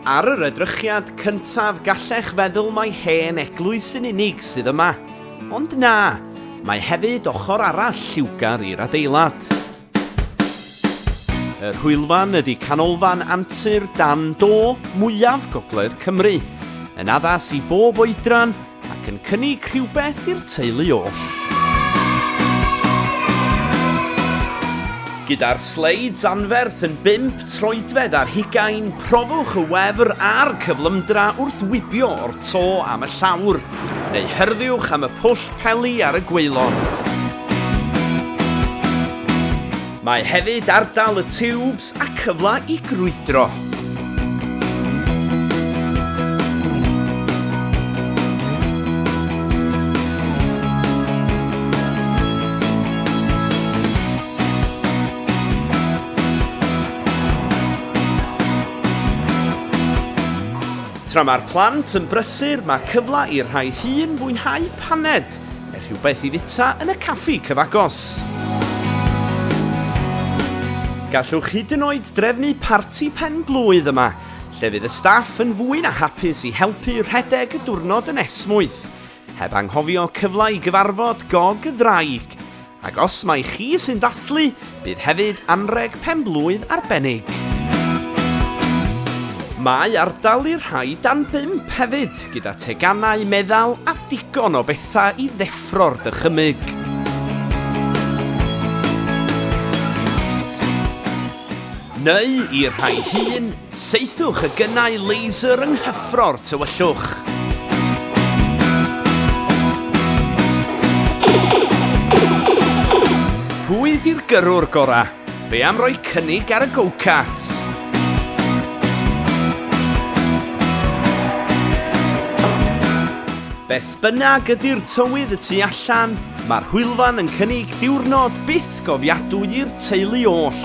Ar yr edrychiad cyntaf gallech feddwl mai hen eglwys yn unig sydd yma. Ond na, mae hefyd ochr arall lliwgar i'r adeilad. Yr hwylfan ydy canolfan antur dan do mwyaf gogledd Cymru, yn addas i bob oedran ac yn cynnig rhywbeth i'r teulu oll. Gyda'r sleids anferth yn bump troedfedd ar hugain, profwch y wefr a'r cyflymdra wrth wibio o'r to am y llawr, neu hyrddiwch am y pwll peli ar y gwaelod. Mae hefyd ar dal y tiwbs a cyfle i grwydro. Tra mae'r plant yn brysur, mae cyfle i'r rhai hŷn fwynhau paned. Er rhywbeth i fita yn y caffi cyfagos. Gallwch hyd yn oed drefnu parti pen blwydd yma, lle fydd y staff yn fwy na hapus i helpu rhedeg y diwrnod yn esmwyth. Heb anghofio cyfle i gyfarfod gog y ddraig. Ac os mai chi sy'n dathlu, bydd hefyd anrheg pen-blwydd arbennig. Mae ardal i'r rhai dan bump hefyd, gyda teganau, meddal a digon o bethau i ddeffro'r dychymyg. Neu, i'r rhai hŷn, saethwch y gynnau laser yng nghyffro'r tywyllwch. Pwy di'r gyrrwr gora? Be am roi cynnig ar y go-kart? Bynnag ydy'r tywydd y tu allan, mae'r hwylfan yn cynnig diwrnod byth gofiadwy i'r teulu oll.